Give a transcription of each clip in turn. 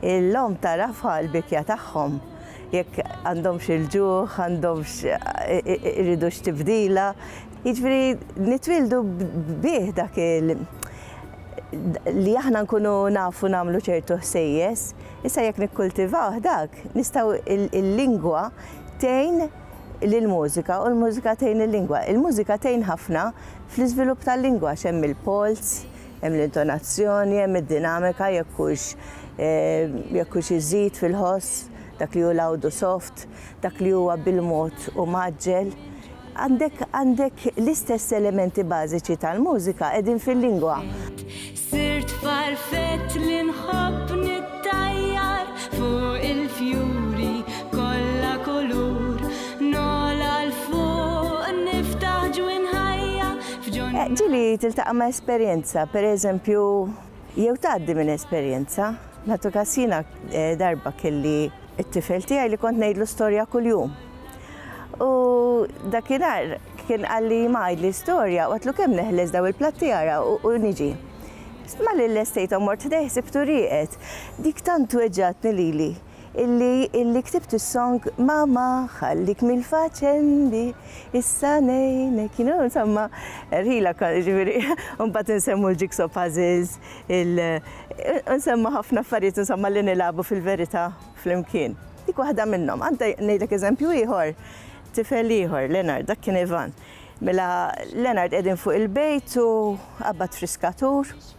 L-omm tagħrafha l-bikja tagħhom, jekk għandhomx il-ġuħ, għandhomx iridux tibdila. Jiġifieri nitwieldu bih dak il li aħna nkunu nafu nagħmlu ċertu ħsejjes. Issa jekk nikkultivawh dak, nistgħu il-lingwa tgħin lill-mużika u l-mużika tgħin il-lingwa. Il-mużika tgħin ħafna fl-iżvilupp tal-lingwa għax hemm il-polz, Hemm l-intonazzjoni, hemm id-dinamika jekk hux jekk hux iżid fil-ħoss dak li hu l-għawdu soft, dak li huwa bil-mod u mgħaġġel. Għandek għandek l-istess elementi bażiċi tal-mużika qegħdin fil-lingwa. Sirt farfett li nħobb nittajjar fuq il-fjuri kollha kulur, nogħla 'l fuq niftaħ ġwien ħajja Ġieli tiltaqa' ma' esperjenza, pereżempju, jew tgħaddi minn esperjenza. Nagħtu każ jiena eh, darba kelli t-tifel tiegħi li kont ngħidlu storja kuljum. U dakinhar kien qalli ma għidli storja u għatlu kemm neħles daw il-platti għara u niġi. Ma li l-estejtom mort ħdejh sibtu rieqet. Dik tant weġġatni lili. illi illi ktibt is-song ma ma ħallik mill-faċendi issa ngħinek you know insomma rħila ġifieri mbagħad insemmu l-jigsaw puzzles il insemmu ħafna affarijiet insomma li nilagħbu fil-verità flimkien. Dik waħda minnhom. Għandha ngħidlek eżempju ieħor, tifel ieħor, Leonard, dak kien Ivan. Mela Leonard qegħdin fuq il-bejt u qabad friskatur.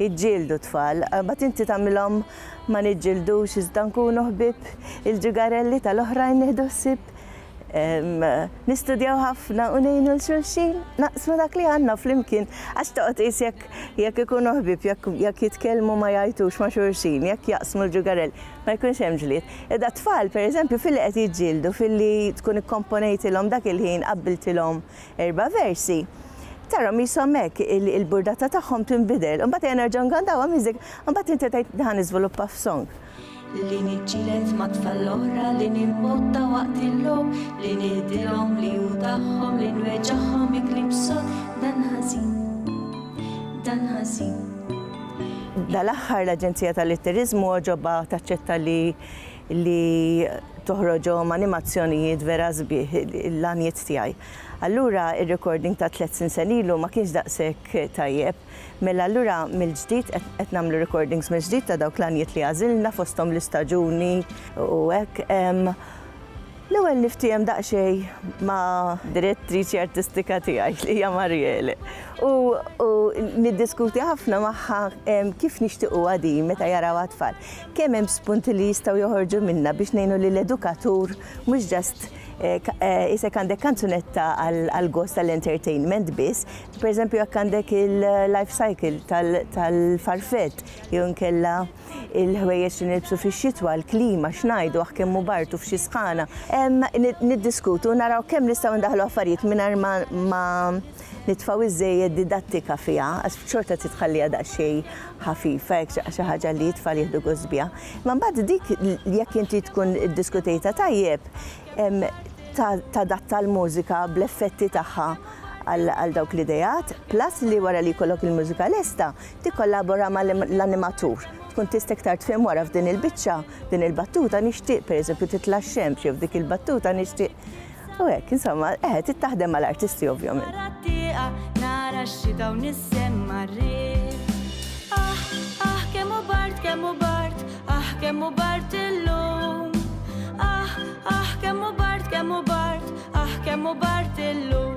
jiġġieldu t-tfal, imbagħad inti tagħmilhom ma niġġildux iżda nkunu ħbieb il-ġugarelli tal-oħrajn nieħdu ħsieb nistudjaw ħafna u ngħinu l xulxin naqsmu dak li għandna flimkien għax toqgħod qis jekk jekk ikunu ħbieb jekk jitkellmu ma jgħajtux ma' xulxin, jekk jaqsmu l-ġugarell ma jkunx hemm ġlied. Idha tfal pereżempju filli qed jiġġieldu filli tkun ikkomponejtilhom dak il-ħin qabbiltilhom Erba' versi. Tarahom qishom hekk, il-burdata tagħhom tinbidel. Imbagħad ejja nerġgħu ngandawha miżik, imbagħad inti tgħid li ħa niżviluppa f'song. Li niġġieled mat-tfal l-oħra, li nimbotta waqt il-logħob, li nihdilhom li hu tagħhom, li nweġagħhom bi kliem sod, dan ħażin, dan ħażin. Dal-aħħar l-Aġenzija tal-Litteriżmu għoġobha taċċetta li li toħroġhom animazzjonijiet vera sbieħ l-għanijiet tiegħi. Allura ir-recording ta' tliet sinsen ilu ma kienx daqshekk tajjeb. Mela allura mill-ġdid qed nagħmlu recordings mill-ġdid ta' dawk l-għanijiet li għażilna fosthom l-istaġuni u hekk. L-ewwel niftiehem daqsxejn ma' direttriċi artistika tiegħi li hija Mariele u niddiskuti ħafna magħha kif nixtiequha din meta jarawha t-tfal. Kemm hemm spunti li jistgħu joħorġu minnha biex ngħinu lill-edukatur mhux just isek għandek kanzunetta għall-gost tal-entertainment biss. Pereżempju jekk għandek il-life cycle tal-farfett jew inkella il-ħwejjeġ li nilbsu fix-xitwa, il-klima, x'ngħidu, aħ kemm hu bard u f'xi sħana. Niddiskutu u naraw kemm nistgħu ndaħħlu affarijiet mingħajr ma nitfgħu iżżejjed didattika fiha, għax xorta trid tħalliha daqsxejn ħafifa, hekk xi xi ħaġa li t-tfal jieħdu gost biha. Imma mbagħad dik jekk inti tkun iddiskutejtha tajjeb, tadatta l-mużika bl-effetti tagħha għal dawk l-ideat, plus li wara li jkollok il-mużika lesta, tikkollabora ma' l-animatur. Tkun tista' iktar tfhem wara f'din il-biċċa, f'din il-battuta nixtieq pereżempju titla' x-xemx jew f'dik il-battuta nixtieq u hekk insomma, eħe trid taħdem ma' l-artisti ovvjament. Barra t-tieqa nara x-xita u nissemma r-riħ Aħ, aħ kemm hu bard, kemm hu bard, aħ kemm hu bard illum Aħ, aħ kemm hu bard, kemm hu bard, aħ kemm hu bard illum.